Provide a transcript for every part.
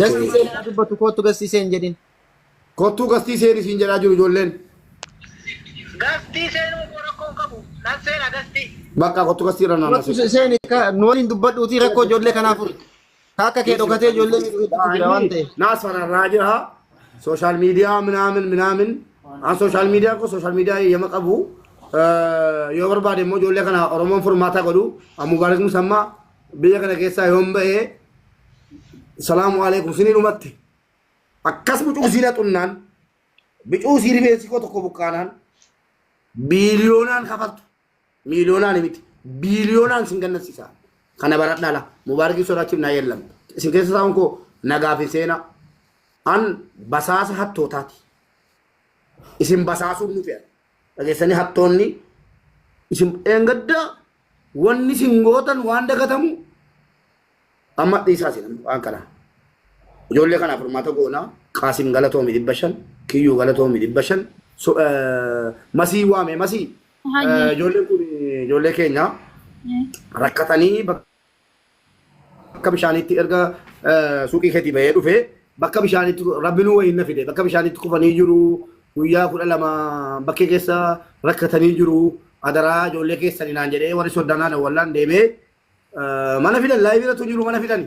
Gasti isheen haa dubbatu koottu gasti isheen jedhin. Kottuu gastii seen isiin jedhaa jiru ijoolleen. Gastii seenuu koo rakkoo hin qabu. Nan seena gastii. Bakka kottuu gastii irra naannoo Koottu isheen nu waliin dubbadhuutii rakkoo ijoollee kanaa furi. Ka akka kee dhokatee ijoollee miidhuutti jira waan ta'eef. Naasfanarraa jira. Sooshaal miidiyaa minaamin minaamin. An sooshaal miidiyaa koo sooshaal miidiyaa eeyyama qabu. Eh, Yoo barbaade immoo ijoollee kana Oromoon furmaataa godhu. An Mubaarak Musammaa biyya kana keessaa yoon ba'ee salaamu alaikum sinii dhumatti akkas bucuu siina xunnaan bicuu sii rifeensi koo tokko buqqaanaan biiliyoonaan kafaltu miiliyoonaan miti biiliyoonaan sin gannasiisa kana baradhaa la mubaarikii sodaachiif naa yeellam isin keessa taa'uun koo nagaaf hin seenaa an basaasa hattootaati isin basaasuun nu fe'a dhageessanii hattoonni isin eengaddaa Wanni sin gootan waan dagatamu amma dhiisaa sin waan kana. Ijoollee kana furmaata goonaa Qaasim galatoomi dhibba shan kiyyuu galatoomi dhibba shan so- eh, masii waame masii. Hayyee. Eh, Ijoolleen kun ijoollee keenya Eh. rakkatanii bakka bakka bishaaniitti erga suuqii keetii bahee dhufe bakka bishaaniitti rabbinuu wayiin na fide bakka bishaaniitti kufanii jiru guyyaa kudha lama bakkee keessa rakkatanii jiru adaraa ijoollee keessanii naan jedhee warri soddanaa dawwallaan deemee mana fidan laayibiiratu jiru mana fidani.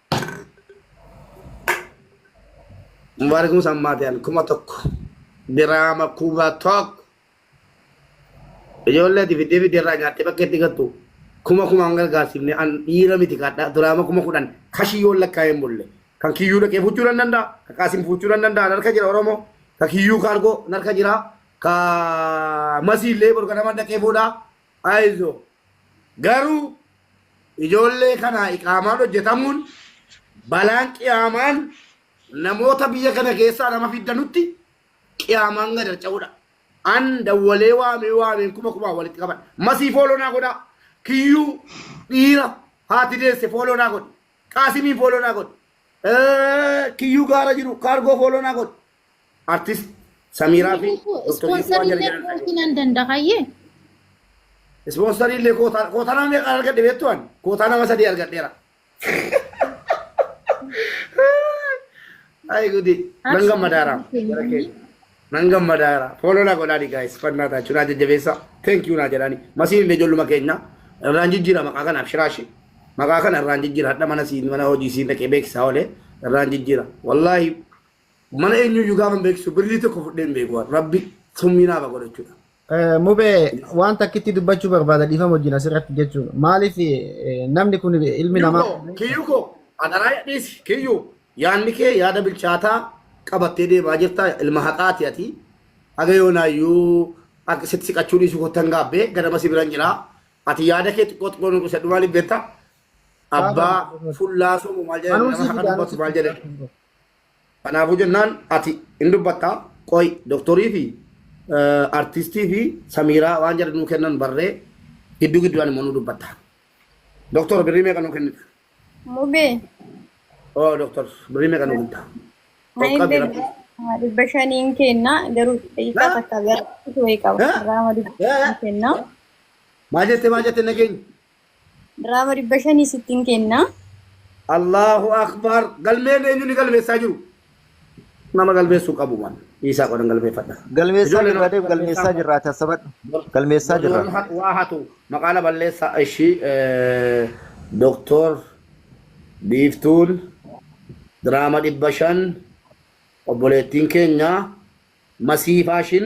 Mubaarak Musa Ammaatiyaan kuma tokko diraama kuma tokko ijoollee ati fiddee fiddee irraa nyaattee bakka itti gattu kuma kuma hin gargaarsiifne an dhiira miti kaadhaa diraama kuma kudhan kashii yoo lakkaa'ee hin bulle kan kiyyuu dhaqee fuuchuu nan danda'a kan kaasin fuuchuu nan danda'a narka jira oromoo kan kiyyuu kaargoo narka jira kan masiillee borganama dhaqee fuudhaa Aizo. Garuu ijoollee kanaa iqaamaan hojjetamuun balaan qiyaamaan namoota biyya kana keessaa nama fidda nutti qiyaamaan gad harca'uudha. An dawwalee waamee waameen kuma kumaan walitti qaban. Masii fooloo naa godhaa. Kiyyuu dhiira haati deesse fooloo naa godhi. Qaasimiin fooloo naa godhi. Eh, Kiyyuu gaara jiru kaargoo fooloo naa godhi. artist Samiiraa fi Doktar Jiituu Ispoonsariin Waajjira illee Jedhan kootii nan danda'a hayyee. Ispoonsarii illee kootaa kootaa nama meeqaan argadhe beektu ani kootaa nama sadii argadheera. Ayi gudi nan gammadaara jara keenya nan gammadaara fooloo naa godhaani gaayis fannaa taachuu naa jajjabeessa thank you naa jedhaani masiin illee ijoolluma keenya irraan jijjiira maqaa kanaaf shiraashi maqaa kana irraan jijjiira hadha mana siin mana hojii siin dhaqee beeksisaa olee irraan jijjiira wallaahi Mana eenyuyyuu gaafa hin beeksisu birrii tokko fudhee hin beeku waan rabbi summii naaf haa godhachuudha. Eh, Mubee waan takkitti dubbachuu barbaada dhiifama wajjin asirratti jechuun maaliif eh, namni kun ilmi namaa Kiyyuko, kiyyuko, adaraa dhiisi, kiyyu, yaanni kee yaada bilchaataa qabattee deemaa jirta, ilma haqaati ati. Haga yoonaayyuu akka sitti siqachuu dhiisuu kottan gaabbee ganama si biran jira. Ati yaada kee xiqqoo xiqqoo nuuf ibsadhu maaliif beekta? Abbaa fullaa somu maal jedhani nama haqa dubbatu maal jedhani? Kanaafuu jennaan ati hin dubbatta qoy doktorii fi artistii fi samiiraa waan jedhan nuu kennan barree gidduu gidduudhaan immoo nuu dubbatta. Doktor birrii meeqa nuu kennita? Mubee. Oo doktor birrii meeqa nuu kennita? Qoqqabi rabbi. Dhibba shaniin kenna garuu xiqqaa takka gara wayii qaba. Irraa dhibba shaniin kenna. Maal jette maal jette nageenyi? Diraama dhibba shanii sittin kenna. Allaahu Akbar galmeen eenyu ni galmeessaa jiru? Nama galmeessuu qabu maan dhiisaa qodan galmeeffadha. Galmeessaa Ijoolleen jirraa deem galmeessaa galmeessaa jirraa tasabadhu. Bor- Galmeessaa bor jirraa. warri waa hatu maqaa na balleessa ishi doktor biiftuun diraama dhibba shan obboleettiin keenya masii faashin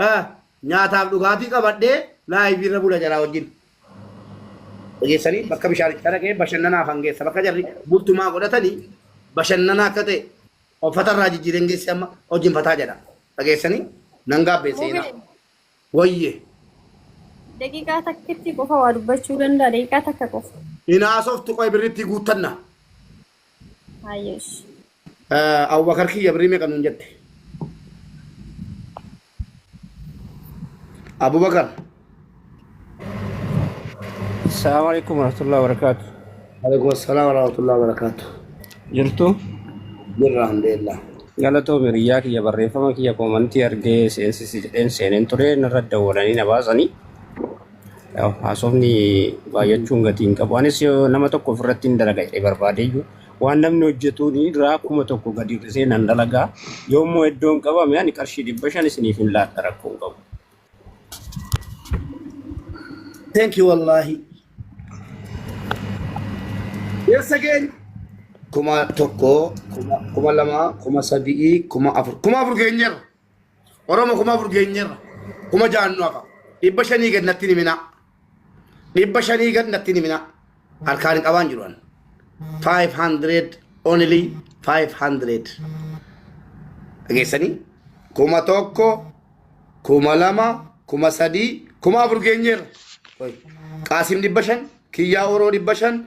Haa nyaataaf dhugaatii qabadhee live irra bula jaraa wajjin. Dhageessanii bakka bishaanicha dhaqee bashannanaaf hangeessa bakka jarri bultumaa godhatanii bashannanaa akka ta'e uffata irraa jijjiireen geessi amma hojiin fataa jedha. Dhageessanii nan gaabbee seenaa. Mubin Wayye daqiiqaa takkitti qofa waa dubbachuu danda'a daqiiqaa takka qofa. hin haasoftu qoy birrittii guuttanna. Haayyesh. Abubakar kiyya birrii meeqa nuun jette? Abubakar. Assalamu alaikum warahmatullahi wabarakatuh. Alaikum assalam warahmatullahi wabarakatuh. Jirtu Jirra alhamdulillah. galatoo miriyyaa kiyya barreeffama kiyya koomantii argee seensi jedheen seeneen ture narra dawwalanii na baasanii. Yaw, haasofni baay'achuun gatii hin qabu. Anis yoo nama tokko ofirratti hin dalaga jedhee barbaade iyyuu waan namni hojjetuun irraa kuma tokko gadi hir'isee nan dalagaa. Yoo immoo iddoon qabame ani qarshii dhibba shan isiniif hin laadha rakkoo hin qabu. Thank you wallaahi. Eessa keenya? Kuma tokko, kuma, kuma lama, kuma sadii, kuma afur. Kuma afur keenyarra. Oromo kuma afur geenyeerra. Kuma ja'an nu hafa. Dhibba shanii gad natti himinaa. Dhibba shanii gad natti himinaa. Harkaan hin qabaan jiru an. 500 only 500. Dhageessanii? Kuma tokko, kuma lama, kuma sadii, kuma afur geenyeerra. Qaasim dhibba shan, Kiyyaa Oroo dhibba shan,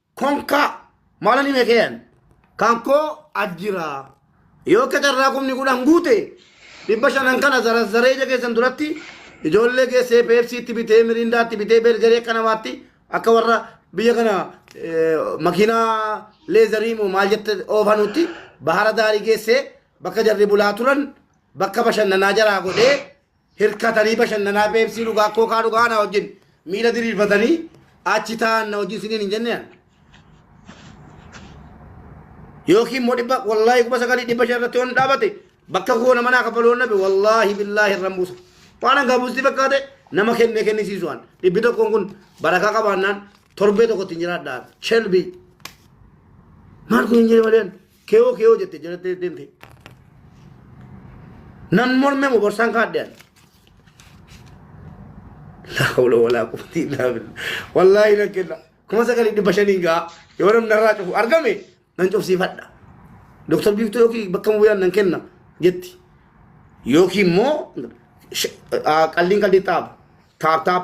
konkaa maalan hime keeyan kan koo ajjira yoo akka carraa kumni kudhan guute dhibba shanan kana zarazzaree ija keessan duratti ijoollee geessee peepsiitti bitee miriindaatti bitee beergarii akka namaatti akka warra biyya kana eh, makiinaa leezarii moo maal jette oofanutti bahara daarii geessee bakka jarri bulaa turan bakka bashannanaa jaraa godhee Hirkatanii bashannanaa peepsii dhugaa kookaa dhugaa na wajjin miila diriirfatanii achi taa'an na wajjin siniin hin jenne ani. Yookiin immoo dhibba wallaahi kuma sagalii dhibba shan irratti yoon dhaabate bakka koo nama naa kaffaluu nabe wallaahi billaahi irran buusa. Waan hangaa buusti fakkaate nama kennee kennisiisu waan. Dhibbi tokkoon kun barakaa qabaannaan torbee tokkotti hin jiraadhaan. Shelbii. Maal kun hin jire malee ani. Keewoo keewoo jette jalattee deemte. Nan morme mo borsaan kaadhe ani. La hawla walaa quwwata illaa billah. Wallaahi nan kenna. Kuma sagalii dhibba shaniin ga'a. Yoo namni narraa cufu argame nan cufsiifadha. Doktar Biiftuu yookiin bakka bu'aan nan kenna jetti. Yookiin immoo sh- aa, qalliin qalliin taap taap taap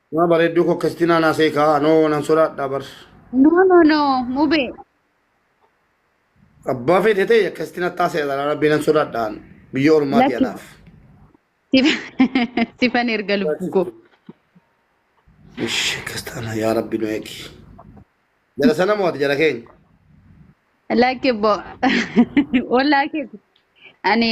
Maa bareedduu koo akkasitti naan haasa'e kaa anoo nan sodaadhaa bar. No no no mube. Abbaa feete ta'e akkasitti natti haasa'e dhala rabbii nan sodaadhaan biyya ormaati Lakki. anaaf. Sif- Sifan erga lubbuu koo. Ish akkas taana yaa rabbi nu eegi. Jara sana mo'ate jara keenya. Lakki bo. Ollaa keeti. Ani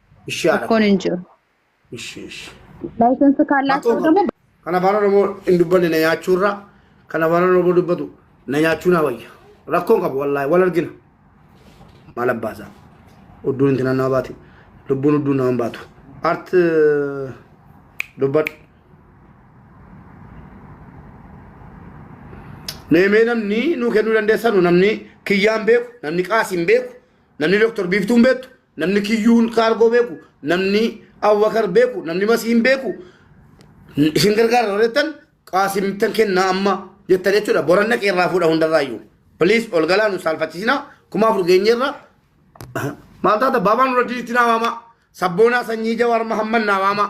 Ishii haadha. Rakkoon hin jiru. Ishii ishii. Laayisensi kaallaachuu Akkuma- immoo Kan afaan Oromoo hin dubbanne na nyaachuu irraa kan afaan Oromoo dubbatu na nyaachuu naa wayya. Rakkoon qabu wallaahi wal argina. Maal abbaasaa? Udduun itti naannawaa baate. Lubbuun udduun nama hin baatu. Art dubbadhu. Meemee namni nuu kennuu dandeessanu namni kiyyaan beeku, namni qaasiin beeku, namni doktor biiftuun beektu Namni kiyyuun kaargoo beeku, namni Abubakar beeku, namni Masiin beeku isin gargaara yoo jettan qaasimtan kennaa amma jettan jechuudha. Boran dhaqee irraa fuudha hundarraayyuu. Please ol galaa nu saalfachiisinaa kuma afur geenyeerra maal taata baabaan irra diitti naa waamaa sabboonaa sanyii jawaar mahamman naa waamaa.